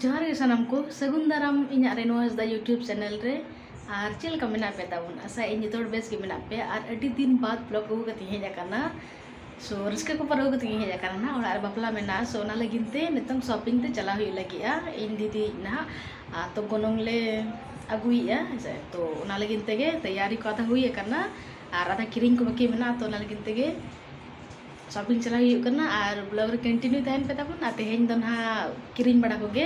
ᱡᱚᱦᱟᱨ ᱜᱮ ᱥᱟᱱᱟᱢ ᱠᱚ ᱥᱟᱹᱜᱩᱱ ᱫᱟᱨᱟᱢ ᱤᱧᱟᱹᱜ ᱨᱮᱱᱩᱣᱟᱥ ᱫᱟ ᱭᱩᱴᱩᱵᱽ ᱪᱮᱱᱮᱞ ᱨᱮ ᱟᱨ ᱪᱮᱫ ᱞᱮᱠᱟ ᱢᱮᱱᱟᱜ ᱯᱮ ᱛᱟᱵᱚᱱ ᱟᱥᱟ ᱤᱧ ᱡᱚᱛᱚ ᱦᱚᱲ ᱵᱮᱥ ᱜᱮ ᱢᱮᱱᱟᱜ ᱯᱮᱭᱟ ᱟᱨ ᱟᱹᱰᱤ ᱫᱤᱱ ᱵᱟᱫᱽ ᱵᱞᱚᱜ ᱟᱹᱜᱩ ᱠᱟᱛᱮᱧ ᱦᱮᱡ ᱟᱠᱟᱱᱟ ᱥᱚ ᱨᱟᱹᱥᱠᱟᱹ ᱠᱚ ᱯᱟᱨᱟᱹᱣ ᱠᱟᱛᱮ ᱜᱤᱧ ᱦᱮᱡ ᱟᱠᱟᱱᱟ ᱱᱟᱦᱟᱜ ᱚᱲᱟᱜ ᱨᱮ ᱵᱟᱯᱞᱟ ᱢᱮᱱᱟᱜᱼᱟ ᱥᱚ ᱚᱱᱟ ᱞᱟᱹᱜᱤᱫ ᱛᱮ ᱱᱤᱛᱚᱝ ᱥᱚᱯᱤᱝ ᱛᱮ ᱪᱟᱞᱟᱣ ᱦᱩᱭᱩᱜ ᱞᱟᱹᱜᱤᱫᱼᱟ ᱤᱧ ᱫᱤᱫᱤ ᱱᱟᱦᱟᱜ ᱟᱨ ᱛᱚ ᱜᱚᱱᱚᱝ ᱞᱮ ᱟᱹᱜᱩᱭᱮᱫᱼᱟ ᱦᱮᱸ ᱥᱮ ᱛᱚ ᱚᱱᱟ ᱞᱟᱹᱜᱤᱫ ᱛᱮᱜᱮ ᱛᱮᱭᱟᱨᱤ ᱠᱚ ᱟᱫᱷᱟ ᱦᱩᱭ ᱟᱠᱟᱱᱟ ᱟᱨ ᱟᱫᱷᱟ ᱠᱤᱨᱤᱧ ᱠᱚ ᱵᱟᱹᱠᱤ ᱢᱮᱱᱟᱜᱼᱟ ᱛᱚ ᱚᱱᱟ ᱞᱟᱹᱜᱤᱫ ᱛᱮᱜᱮ ᱥᱚᱯᱤᱝ ᱪᱟᱞᱟᱣ ᱦᱩᱭᱩᱜ ᱠᱟᱱᱟ ᱟᱨ ᱵᱞᱚᱜᱽ ᱨᱮ ᱠᱚᱱᱴᱤᱱᱤᱭᱩ ᱛᱟᱦᱮᱱ ᱯᱮ ᱛᱟᱵᱚᱱ ᱟᱨ ᱛᱮᱦᱮᱧ ᱫᱚ ᱱᱟᱦᱟᱜ ᱠᱤᱨᱤᱧ ᱵᱟᱲᱟ ᱠᱚᱜᱮ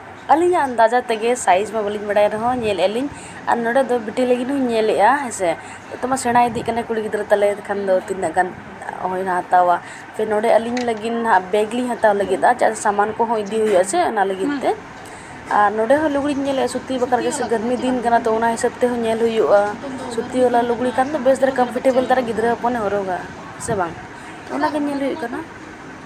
ᱟᱹᱞᱤᱧᱟᱜ ᱟᱱᱫᱟᱡᱟ ᱛᱮᱜᱮ ᱥᱟᱭᱤᱡᱽ ᱢᱟ ᱵᱟᱹᱞᱤᱧ ᱵᱟᱰᱟᱭ ᱨᱮᱦᱚᱸ ᱧᱮᱞᱮᱜᱼᱟ ᱞᱤᱧ ᱟᱨ ᱱᱚᱰᱮ ᱫᱚ ᱵᱤᱴᱤ ᱞᱟᱹᱜᱤᱫ ᱦᱚᱸᱧ ᱧᱮᱞᱮᱜᱼᱟ ᱦᱮᱸ ᱥᱮ ᱱᱤᱛᱚᱜ ᱢᱟ ᱥᱮᱬᱟ ᱤᱫᱤᱜ ᱠᱟᱱᱟᱭ ᱠᱩᱲᱤ ᱜᱤᱫᱽᱨᱟᱹ ᱛᱟᱞᱮ ᱮᱱᱠᱷᱟᱱ ᱫᱚ ᱛᱤᱱᱟᱹᱜ ᱜᱟᱱ ᱦᱳᱭ ᱱᱟ ᱦᱟᱛᱟᱣᱟ ᱯᱷᱤᱨ ᱱᱚᱰᱮ ᱟᱹᱞᱤᱧ ᱞᱟᱹᱜᱤᱫ ᱦᱟᱸᱜ ᱵᱮᱜᱽ ᱞᱤᱧ ᱦᱟᱛᱟᱣ ᱞᱟᱹᱜᱤᱫᱼᱟ ᱪᱮᱫᱟᱜ ᱥᱮ ᱥᱟᱢᱟᱱ ᱠᱚᱦᱚᱸ ᱤᱫᱤ ᱦᱩᱭᱩᱜᱼᱟ ᱥᱮ ᱚᱱᱟ ᱞᱟᱹᱜᱤᱫ ᱛᱮ ᱟᱨ ᱱᱚᱰᱮ ᱦᱚᱸ ᱞᱩᱜᱽᱲᱤᱡ ᱤᱧ ᱧᱮᱞᱮᱜᱼᱟ ᱥᱩᱛᱤ ᱵᱟᱠᱷᱨᱟ ᱜᱮᱥᱮ ᱜᱚᱨᱢᱤ ᱫᱤᱱ ᱠᱟᱱᱟ ᱛᱚ ᱚᱱᱟ ᱦᱤᱥᱟᱹᱵ ᱛᱮᱦᱚᱸ ᱧᱮᱞ ᱦᱩᱭᱩᱜᱼᱟ ᱥᱩᱛᱤ ᱵᱟᱞᱟ ᱞᱩᱜᱽᱲᱤ ᱠᱷᱟᱱ ᱫᱚ ᱵᱮᱥ ᱫᱷᱟᱨᱟ ᱠᱚᱢᱯᱷᱚᱨᱴᱮᱵᱚᱞ ᱫᱷᱟᱨᱟ ᱜᱤᱫᱽᱨᱟᱹ ᱦᱚᱯᱚᱱᱮ ᱦᱚᱨᱚᱜᱟ ᱥᱮ ᱵᱟᱝ ᱚᱱᱟᱜᱮ ᱧᱮᱞ ᱦᱩᱭᱩᱜ ᱠᱟᱱᱟ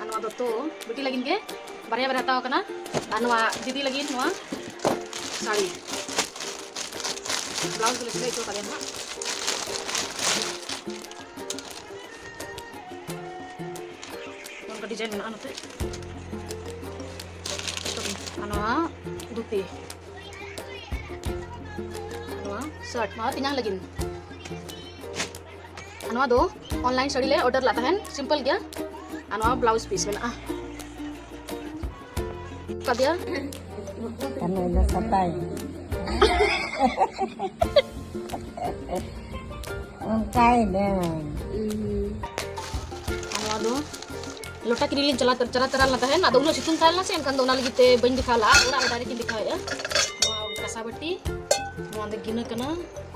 ᱟᱨ ᱱᱚᱣᱟ ᱫᱚ ᱛᱚ ᱵᱤᱴᱤ ᱞᱟᱹᱜᱤᱫ ᱜᱮ ᱵᱟᱨᱭᱟ ᱵᱟᱨᱭᱟ ᱦᱟᱛᱟᱣ ᱠᱟᱱᱟ ᱟᱨ ᱱᱚᱣᱟ ᱫᱤᱫᱤ ᱞᱟᱹᱜᱤᱫ ᱱᱚᱣᱟ ᱥᱟᱹᱲᱤ ᱵᱞᱟᱣᱩᱡᱽ ᱫᱚᱞᱮ ᱥᱤᱞᱟᱹᱭ ᱦᱚᱪᱚ ᱠᱟᱫᱮᱭᱟ ᱦᱟᱸᱜ ᱱᱚᱝᱠᱟ ᱰᱤᱡᱟᱭᱤᱱ ᱢᱮᱱᱟᱜᱼᱟ ᱱᱚᱛᱮ ᱟᱨ ᱱᱚᱣᱟ ᱫᱷᱩᱛᱤ ᱱᱚᱣᱟ ᱥᱟᱨᱴ ᱱᱚᱣᱟ ᱛᱮᱧᱟᱝ ᱞᱟᱹᱜᱤᱫ ᱱᱚᱣᱟ ᱫᱚ ᱚᱱᱞᱟᱭᱤᱱ ᱥᱟᱹᱲᱤ ᱞᱮ ᱚᱰᱟᱨ ᱞᱟᱜ ᱛᱟᱦᱮᱱ ᱥᱤᱢᱯᱚᱞ ᱜᱮᱭᱟ ᱟᱨ ᱱᱚᱣᱟ ᱵᱞᱟᱣᱩᱡᱽ ᱯᱤᱥ ᱢᱮᱱᱟᱜᱼᱟ ᱠᱟᱫᱮᱭᱟ ᱠᱟᱹᱢᱤ ᱫᱚ ᱥᱟᱯᱟᱭ ᱚᱱᱠᱟᱭ ᱫᱚ ᱟᱨ ᱱᱚᱣᱟ ᱫᱚ ᱞᱚᱴᱟ ᱠᱤᱨᱤᱧ ᱞᱤᱧ ᱪᱟᱞᱟᱣ ᱪᱟᱞᱟᱣ ᱛᱟᱨᱟ ᱞᱮᱱᱟ ᱛᱟᱦᱮᱱ ᱟᱫᱚ ᱩᱱᱟᱹᱜ ᱥᱤᱛᱩᱝ ᱛᱟᱦᱮᱸ ᱞᱮᱱᱟ ᱥᱮ ᱮᱱᱠᱷᱟᱱ ᱫᱚ ᱚᱱᱟ ᱞᱟᱹᱜᱤᱫ ᱛᱮ ᱵᱟᱹᱧ ᱫᱮᱠᱷᱟᱣ ᱞᱟᱜᱼᱟ ᱚᱲᱟᱜ ᱨᱮ ᱰᱟᱭᱨᱮᱠᱴ ᱤᱧ ᱫᱮᱠᱷᱟᱣᱮᱫᱼᱟ ᱱᱚᱣᱟ ᱠᱟᱥᱟ ᱵᱟᱹᱴᱤ ᱱᱚᱣᱟ ᱫᱚ ᱜᱤᱱᱟᱹ ᱠᱟᱱᱟ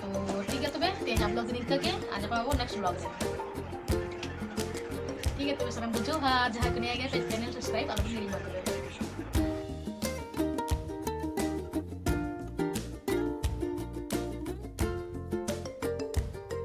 ᱛᱚ ᱴᱷᱤᱠ ᱜᱮᱭᱟ ᱛᱚᱵᱮ ᱛᱮᱦᱮᱧ ᱟᱯᱞᱳᱰ ᱫᱚ ᱱᱤᱝᱠᱟᱹ ᱜᱮ ᱟᱨ ᱧᱟᱯᱟᱢ ᱟᱵᱚ ᱱᱮᱠᱥᱴ ᱵᱞᱚᱜ ᱨᱮ ᱴᱷᱤᱠ ᱜᱮᱭᱟ ᱛᱚᱵᱮ ᱥᱟᱱᱟᱢ ᱵᱩᱡᱷᱟᱹᱣ ᱟᱨ ᱡᱟᱦᱟᱸᱭ ᱠᱚ ᱱᱤᱭᱟᱹ ᱜᱮ ᱯᱮᱡᱽ ᱪᱮᱱᱮᱞ ᱥᱟᱵᱥᱠᱨᱟᱭᱤᱵ ᱟᱞᱚᱵᱚᱱ ᱦᱤᱲᱤᱧᱟ ᱛᱚᱵᱮ